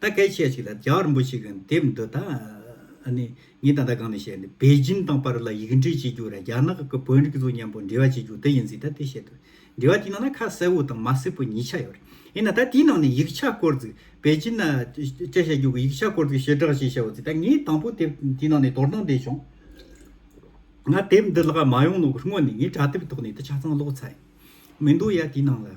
ད་སྐད་ཆ་ཞིག་ལ་ཇག་རིན་པོ་ཆེ་གི་དེབ་འདི་དག་ནི་ངས་ད་ལྟ་གང་ནས་བཤད་ནས་པེ་ཅིན་དང་པར་ལ་ཡིག་འབྲི་བྱེད་རྒྱུ་ར་རྒྱ་ནག་གི་བོན་རིགས་ཚོ་མཉམ་པོ་འབྲེལ་བ་བྱེད་རྒྱུ་དེ་ཡིན་ཟིག་ད་དེ་བཤད་དུས་འབྲེལ་བ་དེའི་ནང་ན་ཁ་གསལ་བོ་དང་མ་གསལ་བོ་གཉིས་ཆ་ཡོད་རེད་ཡིན་ན་ད་དེའི་ནང་ནས་ཡིག་ཆ་བཀོལ་ཟིག་པེ་ཅིན་ན་བཅད་བྱ་རྒྱུ་གི་ཡིག་ཆ་བཀོལ་ཟིག་ཞེ་དྲག་ཞིག་བྱའོ་ཟིག་ད་ངས་དང་པོ་དེབ་དེའི་ནང་ནས་དོར་དང་བསྡད་བྱུང། ང་དེབ་འདི་ལག་མ་ཡོང་ལོག་གི་སྔོན་ནས་ངས་དྲ་དེབ་ཐོག་ནས་དེ་ཆ་ཚང་ཀློག་ཚར་ཡིན་མི་འདུག་ཡ་དེའི་ནང་ལ།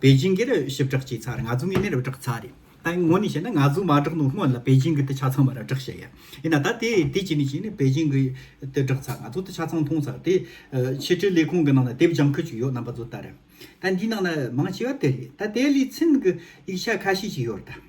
པེ་ཅིང་གི་རུ་ཞིབ་བསྒྲགས་བྱས་ཚར་ང་ཚོ་ངེས་མེད་རུ་བསྒྲགས་ཚར་རེད་ད་ངོ་ནས་བཤད་ན་ང་ཚོ་མ་བསྒྲགས་ནོ་སྔོན་ལ་པེ་ཅིང་གི་དུ་ཆ་ཚང་མ་རུ་བསྒྲགས་བྱས་ཡ་ཡིན་ན་ད་དེ་དེ་བྱས་ནས་བྱས་ནས་པེ་ཅིང་གི་དུ་བསྒྲགས་ཚར་ང་ཚོ་དུ་ཆ་ཚང་མཐོང་ཚར་དེ་ཕྱི་དྲིལ་ལས་ཁུངས་གི་ནང་ན་དེབ་སྦྱང་ཁུལ་ཅིག་ཡོད་རྣམ་པ་ཚོ་ལྟར་ད་འདིའི་ནང་ན་མང་ཆེ་བ་དེ་རེད་ད་དེ་ལས་ཚིན་གི་ཡིག་ཆ་ཁ་ཤས་ཅིག་ཡོད་རེད་ད།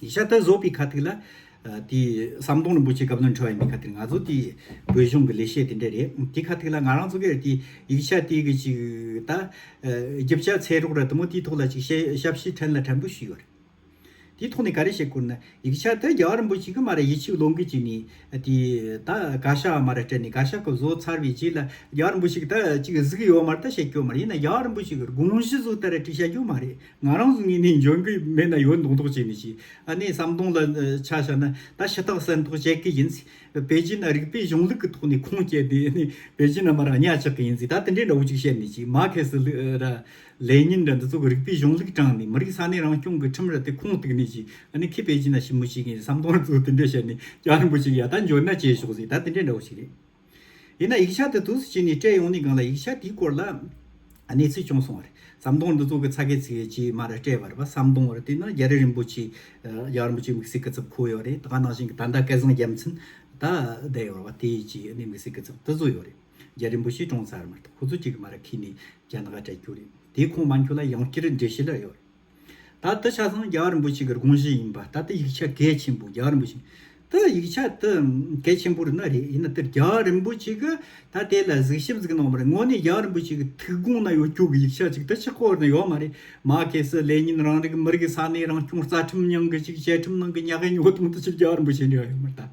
ཡེ་ཤ་ད་བཟོ་པའི་ཁ་ཐིག་ལ། དེ། ཟམ་གདོང་རིན་པོ་ཆེ་སྐབས་དོན་འཁྲོལ་བ་ཡིན་པའི་ཁ་ཐིག་རེད། ང་ཚོ་དེའི་བོད་གཞུང་གི་ལས་བྱེད་དེ་འདྲ་རེད། དེའི་ཁ་ཐིག་ལ་ང་རང་ཚོ་གིར་དེའི་ཡིག་ཆ་དེའི་གི་ཅིག་ད། རྒྱབ་ཆ་ཚལ་རོགས་ར་དུ་མོ་དེའི་ཐོག་ལ་ཅིག་བཤད་ཞབས་ཕྱི་ཕྲན་ལ་ཕྲན་བུ་ཞུས་ཡོད་རེད། དེའི་ཐོག་ནས་ག་རེ་བཤད་དགོས་ན། ཡིག་ཆ་ད་རྒྱ་བ་རིན་པོ་ཆེ་གི་མ་ར་ཡིད་ཆེས་བློ་འགུལ་ཅིག་ནས། དེ། ད་ག་ཤ་བ་མ་ར་སྤྲད་ནས་ག་ཤ་གི་བཟོ་ཚར་བའི་རྗེས་ལ་རྒྱ་བ་རིན་པོ་ཆེ་གི་ད་ཅིག་གཟིགས་ཡོད་མ་རེད་ད་བཤད་ཀྱི་ཡོད་མ་རེད་ཡིན་ན་རྒྱ་བ་རིན་པོ་ཆེ་གི་དགོངས་གཞི་བཟོ་ད་ར་ཅིག་བཤད་རྒྱུ་མ་རེད། ང་རང་ཚོ་གཉིས་ནས་འཇོན་གི་མེད་ན་ཡོད་མདོག་མདོག་བྱས་ནས་ཤི། ཨ་ནེའི་བསམ་གདོང་ལ་ཆ་བཞག་ན་ད་ཤི་ཐག་གསལ་མདོག་བྱེད་ཀི་ཡིན། པེ་ཅིན་ཨ་རིག་པའི་གཞུང་ལུགས་ཀྱི་ཐོག་ནས་ཁུངས་སྐྱེལ་ཏེ་ཨ་ནེ་པེ་ཅིན་ཨ་མ་རང་གཉའ་ཆག་གི་ཡིན་ཟིག་ད་དེ་འདྲའི་འདྲ་བོ་ཅིག་བཤད་ནས་ཤི། མ་ཁེ་སི་ར། ལེ་ཉིན་ར་འདི་ཚོ་གི་རིག་པའི་གཞུང་ལུགས་དྲངས་ནས་མི་རིགས་ས་གནས་རང་སྐྱོང་གི་ཁྲིམས་ར་དེ་ཁུངས་གཏུགས་ནས་ཤི། ཨ་ནེ་ཁི་པེ་ཅིན་ཨ་ཤི་མོ་ཤི་གི་ཡིན་བསམ་གདོང་ར་ཚོ་དེ་འདྲས་བཤད་ནས་སྐྱག་རིང་པོ་ཅིག་ཡ་ད་འཇོན་ན་བྱས་ཤོག་ཟིག་ད་དེ་འདྲའི་འདྲ་བོ་ཅིག་རེད། ཡིན་ན་ཡིག་ཆ་དེ་དུས་སུ་བྱས་ནས་སྤྲད་ཡོང་ནི་གང་ལ་ཡིག་ཆ་དེའི་སྐོར་ལ་གནས་ཚུལ་བྱུང་སོང་བ་རེད་ཟམ་གདོང་འདི་ཚོ་གི་ཚ་གེ་ཚི་གེ་ཇི་མར་སྤྲད་པར་བ་སམ་གདོང་བར་བལྟས་ན་རྒྱ་རི་རིན་པོ་ཆེ་རྒྱ་རིན་པོ་ཆེ་མིག་སེར་སྐེ་ཚབ་ཁོ་ཡོད་རེད་ད་ག་ནང་བཞིན་གྱི་ད་ཟླ་སྐལ་བཟང་རྒྱལ་མཚན་ད་བསྡད་ཡོད་བ་དེ་ཇི་ནས་མིག་སེར་སྐེ་ཚབ་དེ་ཚོ་ཡོད་རེད་རྒྱ་རིན་པོ་ཆེ་གྲོངས་ཚར་མ་ཐག་ཁོ་ཚོ་གཅིག་གི་མ་ར་ཁི་ནས་རྒྱ་ནག་ལ་སྤྲད་རྒྱུ་རེད་དེ་ཁོང་མ་འཁྱོལ་ལ་ཡང་བསྐྱར་འགྲེལ་བཤད་ལ་ཡོད་རེད། ད་ཏི་ཆ་ཚང་རྒྱ་གར་རིན་པོ་ཆེ་གི་དགོངས་གཞི་ཡིན་པ་ད་ཏི་ཡིག་ཆ་གལ་ཆེན་པོ་རྒྱ་གར་རིན་པོ་ཆེ་ཏི་ཡིག་ཆ་ཏི་གལ་ཆེན་པོ་རེད་ན་རེད་ཡིན་ན་ཏི་རྒྱ་གར་རིན་པོ་ཆེ་གི་ད་དེ་ལ་གཟིགས་ཞིབ་གཟིགས་གནང་བ་རེད་དངོས་གནས་རྒྱ་གར་རིན་པོ་ཆེ་གི་ཐུགས་དགོངས་ན་ཡོད་སྐྱོ་གི་ཡིག་ཆ་ཅིག་ཏི་ཕྱི་སྐོར་ན་ཡོད་མ་རེད་མ་གལ་སྲིད་ལེ་ཉིན་རང་རིགས་ཀི་མི་རིགས་ཀི་ས་གནས་རང་སྐྱོང་རྩ་ཁྲིམས་ཉང་གི་ཅིག་བཅའ་ཁྲིམས་ནང་གི་ཉག་གི་ཉོ་སྟོང་ཏི་ཅིག་རྒྱ་གར་རིན་པོ་ཆེ་འདྲ་ཡོད་མ་རེད་ད།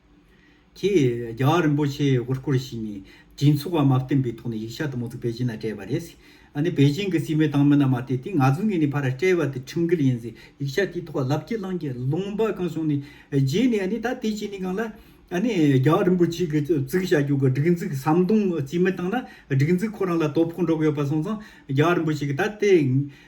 ཀྱིས་རྒྱ་གར་རིན་པོ་ཆེའི་དབུ་སྐོར་ཞིག་ནས་སྤྱི་ཚོགས་བར་མ་བསྟན་པའི་ཐོག་ནས་ཡིག་ཆ་དུ་མ་ཚུགས་པེ་ཅིན་ལ་སྤྲད་པ་རེད། ཨ་ནི་པེ་ཅིན་གྱི་སྲིད་བློན་དང་མི་རྣམས་མ་སྟེ་དེ་ང་ཚོའི་ངོས་ནས་ཕར་སྤྲད་པ་དེ་ཁྲིམས་འགལ་ཡིན་ཟེར་ཡིག་ཆ་དེའི་ཐོག་ལབ་ཀྱི་བླངས་ཀྱི་ལུང་པ་གང་བྱུང་ནས་བརྗེས་ནས་ཨ་ནི་ད་དེ་བྱས་ནས་གང་ལ། ཨ་ནི་རྒྱ་གར་རིན་པོ་ཆེ་གི་གཙུག་བྱ་རྒྱུག་གི་སྒྲིག་འཛུགས་ཟམ་གདོང་བརྩིས་མེད་བཏང་ན་སྒྲིག་འཛུགས་ཁོ་རང་ལ་དོ་ཕོག་འགྲོ་གི་ཡོད་པ་སོང་ཙང་རྒྱ་གར་རིན་པོ་ཆེ་གི་ད་དེ་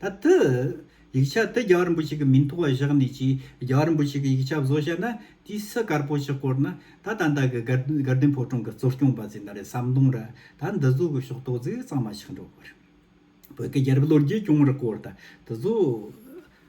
ད་ལྟ། ཡིག་ཆ་དེ་རྒྱ་གར་འབུ་ཞིག་གི་མིང་ཐོག་བཞག་ནས་ཀྱིས་རྒྱ་གར་འབུ་ཞིག་གི་ཡིག་ཆ་བཟོ་བཞག་ན་དེའི་སྲི་དཀར་པོ་ཞིག་བསྐོར་ན་ད་ད་ད་གི་དགའ་ལྡན་ཕོ་བྲང་གི་གཙོ་སྐྱོང་པ་ཚོས་ན་རེ་ཟམ་གདོང་ར་ད་འདི་བཟོ་གི་ཤོག་ཏོག་ཟིག་གཙང་མ་ཞིག་འགྲོ་གི་རེད། བོད་ཀྱི་རྒྱལ་རབས་ལོ་རྒྱུས་སྐྱོང་ར་སྐོར་ད་འདི་བཟོ།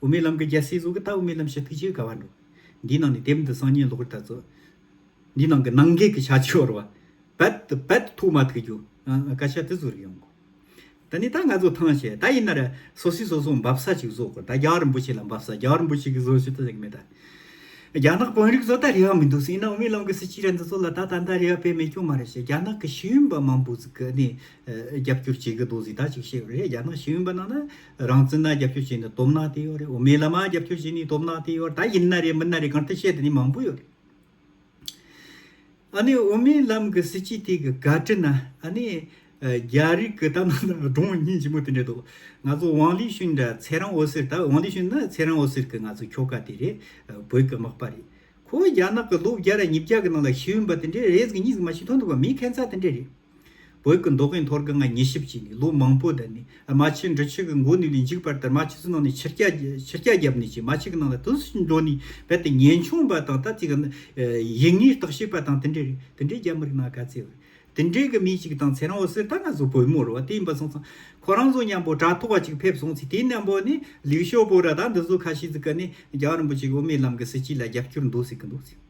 དབུ་མའི་ལམ་གྱི་རྒྱལ་སྲས་གཟུགས་ཀྱི་རྟགས་དབུ་མའི་ལམ་ཞེས་ཐུགས་རྗེའི་དགའ་བ་འགྲོ། འདིའི་ནང་ནས་དེབ་འདི་སང་ཉིན་ལོག་རྒྱུ་ད་གཟོད། འདིའི་ནང་གི་ནང་འགལ་གྱི་བྱ་བྱིའུ་བོར་བ། བད་དུ་བད་དུ་ཐུག་མ་ཐུག་རྒྱུ། བཀའ་ཤག་དེ་བཟོ་རིགས་ཡོང་དགོས། ད་ནི་ད་ང་ཚོ་ཐང་ཆད་ད་ཡིན་ནར་སོ་སོས་སོ་སོ་འབབ་ས་ཅིག་བཟོ་དགོས་ད་རྒྱ་རིན་པོ་ཆེ་ལ་འབབ་ས་རྒྱ་རིན་པོ་ཆེ་གིས་བཟོ་ཞེས་ད་ཟེར་གི་མེད་ད། རྒྱ་ནག་དཔོན་རིགས་ཚོ་ད་རེ་བ་མི་འདུག་སྲིད་ཡིན་ན་དབུ་མའི་ལམ་གྱི་སྲིད་སྤྱི་ར་འདི་ཚོ་ལ་ད་ད་ད་རེ་བ་དཔེ་མེད་སྐྱོན་མ་རེད་ཞེས་རྒྱ་ནག་གི་ཤེས་ཡོན་པ་མང་པོ་ཚིག་གི་ནས་རྒྱབ་སྐྱོར་བྱེད་གི་འདུག་ཟིག་ད་ཅིག་བཤད་རོགས་རེད་རྒྱ་ནག་ཤེས་ཡོན་པ་རྣམས་ན་རང་བཙན་ན་རྒྱབ་སྐྱོར་བྱས་ནས་སྡོམ་ནག་དེ་ཡོད་རེད་འོ་མའི་ལ་མ་རྒྱབ་སྐྱོར་བྱས་ནས་སྡོམ་ནག་དེ་ཡོད་རེད་ད་ཡིན་ན་རེད་མིན་ན་རེད་གང་ལྟར་བཤད་དེ་ནི་མང་པོ་ཡོད་རེད་ཨ་ནི་འོ་མའི་ལམ་གི་སྲིད་སྤྱི་དེ་གི་དགའ་དྲི་ན་ཨ་ནི་རྒྱ་རིགས་གི་ལྟ་ན་ན་སྒྲོང་སྙིང་ལྗིད་མོ་དེ་འདྲས་འདུག་ང་ཚོ་ཝང་ལི་ཤུན་འདྲ་ཚེ་རང་འོད་ཟེར་ད་ཝང་ལི་ཤུན་ནི་ཚེ་རང་འོད་ཟེར་གི་ང་ཚོ་ཁྱོ་ག་དེ་རེད་བོད་གི་དམག་པ་རེད་ཁོ་བོ་རྒྱ་ནག་གི་ལོ་བརྒྱ་ར་ཉིས་བརྒྱ་གི་ནང་ལ་ཤི་ཡོན་པ་དེ་འདྲས་རེས་གི་གཉིས་གི་མ་ཤི་ཐོན་འདུག་པ་མི་ཁན་ཚ་དེ་འདྲས་རེད། བོད་ཀྱི་མདོག་གཡས་མཐོར་གྱི་ང་ཉི་ཞིབ་བཅས་ནས་ལོ་མང་པོའི་གདན་ནས་རྨ་ཆེན་འབྲི་ཆུ་ཀྱི་མགོ་ནུས་ལས་འཇིགས་པར་དར་མ་ཆུ་ཚོད་ནང་ནས་ཕྱིར་སྐྱ་བརྒྱབ་ནས་ཀྱི་རྨ་ཆུ་ཀྱི་ནང་ལ་དུས་སུ་འགྲོ་ནས་རྦད་དེ་ངན་ཆུང་བ་དང་ད་ཅིག་ཡིད་ངེས་རྟོག་ཤེས་པ་དང་དེ་འདྲའི་རེད་དེ་འདྲའི་རྒྱ་མི་རིགས་ནང་ག་ཚད་རེད་དེ་འདྲའི་གི་མི་ཞིག་དང་ཚེ་རང་བོ་སེར་ད་ང་ཚོ་བོད་མོ་རུ་བ་དེ་ཡིན་པ་སོང་ཙང་ཁོ་རང་ཚོ་མཉམ་པོ་དྲ་ཐོག་བ་ཅིག་ཕེབས་སོང་ཚེ་དེ་མཉམ་པོ་ནས་ལིག་ཞོ་པོ་ར་ད་འདི་ཚོ་ཁ་ཤི་ཚིག་ག་ནས་རྒྱ་རིན་པོ་ཆེ་གི་དབུ་མའི་ལམ་གྱི་སྲིད་སྤྱི་ལ་རྒྱབ་སྐྱོར་འདུག་ཟེར་གྱི་འདུག་ཟེར།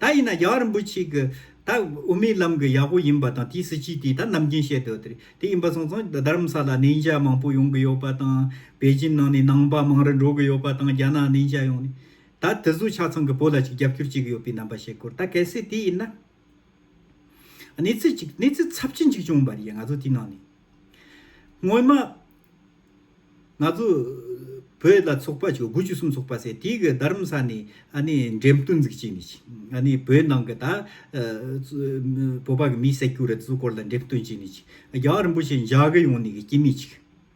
ད་ཡིན་ན་རྒྱ་གར་རིན་པོ་ཆེ་གི་ད་དབུ་མའི་ལམ་གི་ཡག་པོ་ཡིན་པ་དང་དེའི་སྲིད་ཇུས་དེ་ད་ནམ་རྒྱུན་བཤད་དོ་དེ་དེ་ཡིན་པ་སོང་ཙང་རྡ་རམ་ས་ལ་ནན་ཇཱ་མང་པོ་ཡོང་གི་ཡོད་པ་དང་བེ་ཇིན་ནང་ནས་ནང་པ་མང་རུ་འགྲོ་གི་ཡོད་པ་དང་རྒྱ་ནག་ནན་ཇཱ་ཡོང་ནས་ད་དེ་ཟུ་ཆ་ཚང་གི་བོད་ལ་ཅིག་རྒྱབ་སྐྱོར་བྱེད་གི་ཡོད་པའི་རྣམ་པ་བཤད་ཁུར་ད་གལ་སྲིད་དེ་ཡིན་ན། གནས་ཚུལ་གཅིག་གནས་ཚུལ་ཚབས་ཆེན་གཅིག་བྱུང་བ་རེད་ང་ཚོ་དེའི་ནང་ནས། སྔོན་མ། ང་ཚོ་བོད་ལ་ཚོགས་པ་ཆུ་དགུ་ཆུ་གསུམ་ཚོགས་པ་ཟེར་དེའི་གི་རྡ་རམ་ས་ནས་ཨ་ནི་འགྲེམས་སྟོན་འཛུགས་བྱས་ནས་ཨ་ནི་བོད་ནང་གི་ད། བོད་པ་གི་མི་བསད་རྒྱུ་རེད་ཚོའི་སྐོར་ལ་འགྲེམས་སྟོན་བྱས་ནས་ཅིག་རྒྱ་གར་རིན་པོ་ཆེ་འཇའ་གི་ཡོང་ནས་ཀྱི་སྐྱེས་མི་ཅིག་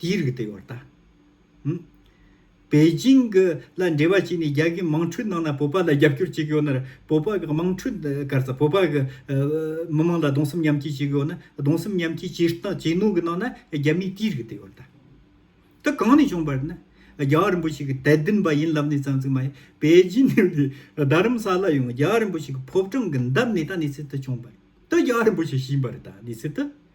དེའི་རིགས་དེ་བར་དང། པེ་ཅིང་གི་ལ་འབྲེལ་བ་བྱས་ནས་རྒྱ་གིས་དམངས་ཁྲོད་ནང་ན་བོད་པ་ལ་རྒྱབ་སྐྱོར་བྱེད་གི་ཡོད་ན་བོད་པ་གི་དམངས་ཁྲོད་སྐར་ཚ་བོད་པ་གི་མི་དམངས་ལ་གདོང་སེམས་མཉམ་སྐྱེ་བྱེད་གི་ཡོད་ན་གདོང་སེམས་མཉམ་སྐྱེ་བྱེད་སྟངས་བྱེད་ནོ་གི་ནང་ན་རྒྱ་མིའི་དེའི་རིགས་དེ་བར་དང། དེ་གང་ནས་བྱུང་བར་ན་རྒྱ་རིན་པོ་ཆེ་གི་དད་ལྡན་པ་ཡིན་ལབ་ནས་ཙང་ཙིག་མ་ཡིན་པེ་ཅིང་ནས་དེ་རྡ་རམ་ས་ལ་ཡོང་རྒྱ་རིན་པོ་ཆེ་གི་ཕོབ་གྲངས་གི་འདབས་ནས་ད་ནས་ཚིག་དེ་བྱུང་བར་དེ་རྒྱ་རིན་པོ་ཆེ་བྱིན་པར་ད་ནས་ཚིག་དེ་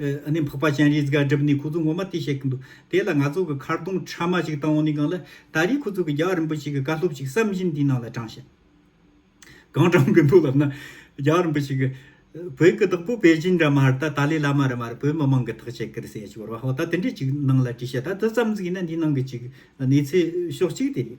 ནི་འཕགས་པ་སྤྱན་རིས་དགའ་གྲུབ་ནི་ཁོ་ཚོ་ངོ་མ་དེ་བཤད་གི་འདུག་དེ་ལ་ང་ཚོ་གི་མཁར་དུང་ཁྲ་མ་ཞིག་བཏང་འོང་ནི་གང་ལ་ད་རེས་ཁོ་ཚོ་གི་རྒྱ་གར་རིན་པོ་ཆེ་གི་བཀའ་སློབ་ཅིག་བསམ་བཞིན་དེའི་ནང་ལ་དྲངས་ཤིང། གང་དྲངས་གི་འདུག་ལབ་ན། རྒྱ་གར་རིན་པོ་ཆེ་གི། བོད་ཀི་བདག་པོ་པེ་ཅིན་ར་མ་རི་ད་ཏཱ་ལའི་བླ་མ་ར་མ་རི་བོད་མི་མང་གི་ཐག་བཅད་ཀིར་སེ་ཅིག་བོར་བ་ཧོ་ད་དེ་འདྲས་ཅིག་ནང་ལ་བྲིས་བཤད་ད་དེ་ཙམ་ཟིག་ཡིན་ན་འདིའི་ནང་གི་ཅིག་གནས་ཚུལ་ཤོག་ཅིག་དེ་རེད།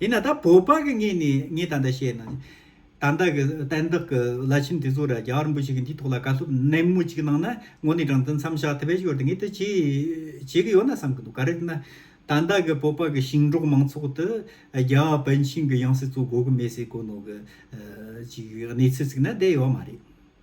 ཡིན་ན་ད་བོད་པ་གི་ངེད་ནས་ངས་ད་ལྟ་བཤད་ན། ད་ལྟ་གི་གཏན་བདག་གི་བླ་ཆེན་དེ་ཚོ་ར་རྒྱ་རིན་པོ་ཆེ་གི་འདིའི་ཐོག་ལ་བཀའ་སློབ་ནན་མོ་ཅིག་གནང་ན་ངོ་ནས་དྲང་བདེན་མཚམས་བཞག་ཐུབ་པའི་ཞོར་དུ་ངས་དེ་བྱེད་བྱེད་གི་ཡོད་ན་བསམ་གི་འདུག་ག་རེ་ཡིན་ན། ད་ལྟ་གི་བོད་པ་གི་ཞིང་འབྲོག་མང་ཚོགས་དེ་རྒྱ་བོད་ཆིངས་གི་ཡང་སྲིད་གཙོ་དགོས་གི་མེད་སའི་གོ་ནོར་གི་གཅིག་གནས་ཚུལ་ཚིག་ན་བསྡད་ཡོད་མ་རེད།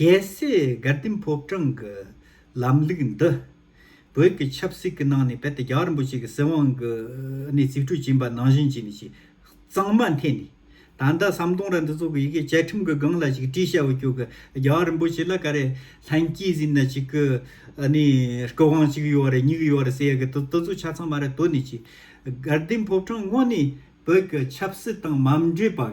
རྒྱལ་སྲས་དགའ་ལྡན་ཕོ་བྲང་གི་ལམ་ལུགས་འདི། བོད་ཀྱི་ཆབ་སྲིད་ཀྱི་ནང་ནས་རྦད་དེ་རྒྱ་གར་རིན་པོ་ཆེ་གི་སྲིད་དབང་གི་ནས་རྩིས་སྤྲོད་བྱིན་པ་ནང་བཞིན་གྱི་ནས་ཀྱི་གཙང་མ་འཐེན་ནས། ད་ལྟ་ཟམ་གདོང་ར་འདི་ཚོ་གི་ཡི་གེ་བཅའ་ཁྲིམས་གི་སྒང་ལ་ཅིག་བྲིས་བྱ་བ་ཀྱོ་གི་རྒྱ་གར་རིན་པོ་ཆེ་ལ་ག་རེ་ལྷན་སྐྱེས་ཟིན་ན་ཅིག་གི་ནས་སྐུ་དབང་གཅིག་ཡོད་རེད་གཉིས་ཡོད་རེད་ཟེར་ཡ་གི་དུ་དུ་ཚོ་ཆ་ཚང་མ་རེད་དོ་ནས་ཀྱི། དགའ་ལྡན་ཕོ་བྲང་དངོས་ནས་བོད་ཀྱི་ཆབ་སྲིད་དང་མ་འབྲེལ་པ།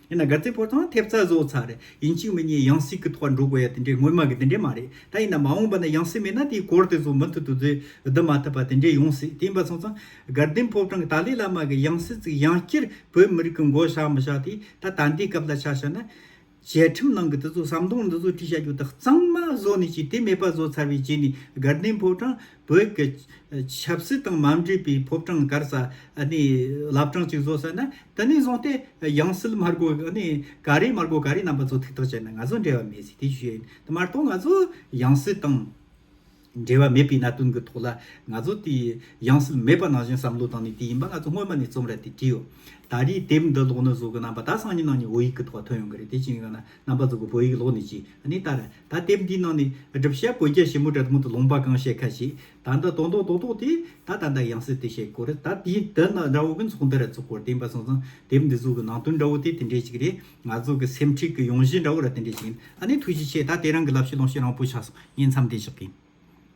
ཡིན་ན་དགའ་ཚལ་ཕོ་བྲང་ཐེབས་རྩ་བཟོ་ཚར་རེད་ཡིན་གཅིག་མི་གཉིས་ཡང་སྲིད་ཀྱི་ཐོག་འགྲོ་དགོས་ཡ་དེ་འདྲའི་སྔོན་མ་གི་དེ་འདྲའི་མ་རེད་ད་ཡིན་ན་མ་འོངས་པ་ན་ཡང་སྲིད་མེད་ན་དེའི་གོར་དེ་ཚོ་མུ་མཐུད་དུ་བཟོས་བསྡུ་མ་ཐུབ་པ་དེ་འདྲའི་ཡོང་སྲིད་དེ་ཡིན་པ་སོང་ཙང་དགའ་ལྡན་ཕོ་བྲང་གི་ཏཱ་ལའི་བླ་མ་གི་ཡང་སྲིད་བརྩིགས་ཡང་སྤྱིར་བོད་མི་རིགས་ཀྱི་མགོ་བཞག་མི་བཞག་དེ་ད་ད་འདའི་སྐབས་ལ་ཆ་བཞག་ན། བཅའ་ཁྲིམས་ནང་གི་དེ་ཚོ་ཟམ་གདོང་འདི་ཚོ་ཁྲིད་བྱ་རྒྱུ་དེ་གཙང་མ་བཟོ་ནས་ཅིག་དེ་མེད་པ་བཟོ་ཚར་བའི་རྗེས་ནས་དགའ་ལྡན་ཕོ་བྲང་བོད་ཀྱི་ཆབ་སྲིད་དང་མ་འདྲེས་པའི་ཕོབ་གྲངས་སྒར་ས་ནི་བླ་བྲང་གཅིག་བཟོ་ས་ན་དེ་ནས་བཟུང་སྟེ་ཡང་སྲིད་དམར་སྒོ་ནི་ག་རེ་དམར་སྒོ་ག་རེ་རྣམ་པ་ཚོ་ཐུགས་ཐག་བཅད་ན་ང་ཚོ་འབྲེལ་བ་མེད་ཟེར་དེ་ཞུས་ཡོད་དེ་མ་གཏོགས་ང་ཚོ་ཡང་སྲིད་དང་འབྲེལ་བ་མེད་པའི་གནད་དོན་གྱི་ཐོག་ལ་ང་ཚོ་དེ་ཡང་སྲིད་མེད་པ་ནང་བཞིན་བསམ་བློ་བཏང་ནས་དེ་ཡིན་པ་ང་ཚོ་སྔོན་མ་ནས་རྩོམ་ར་དེ་བྲིས་ཡོད་ད་རེས་དེབ་འདི་ཀློག་ནས་བཟོ་གི་རྣམ་པ་ད་སང་ཉིན་ནང་ནས་བོད་ཡིག་གི་ཐོག་ཐོན་ཡོང་གི་རེད་དེ་ཅིན་ཡང་ན། རྣམ་པ་གཙོ་བོ་བོད་ཡིག་ཀློག་ནི་གཅིག་ནི་ལྟར། ད་དེབ་འདིའི་ནང་ནས་སྒྲུབ་བྱ་བོད་རྒྱ་ཞིབ་མོ་དྲ་ཐུང་དུ་ལུང་པ་གང་བཤད་ཁ་ཞིག་ད་ལྟ་དོན་དང་དོན་རྟོགས་དེ་ད་ད་ལྟ་ཡང་སྲིད་དེ་བཤད་སྐོར་ད་དེའི་དུ་ནི་དགྲ་བོ་གི་ཚོགས་འདི་རུ་ཚུགས་སྐོར་བསྟན་པ་སོང་ཙང་དེབ་འདི་གཟུགས་ཀྱི་ནང་དོན་འདྲ་བོ་དེ་དེ་འདྲའི་གཅིག་རེད་ང་ཚོ་གི་སེམས་ཁྲིད་ཀྱི་ཡོང་གཞི་འདྲ་བོ་ར་དེ་འདྲའི་གཅིག་ཡིན་ཨ་ནི་ཐུགས་རྗེ་ཆེ་ད་དེ་རང་གི་བསླབ་བྱ་ལོངས་ཤིག་རང་བོད་ཆགས་སོང་ཉིན་མཚམས་འདི་བཞག་གིན།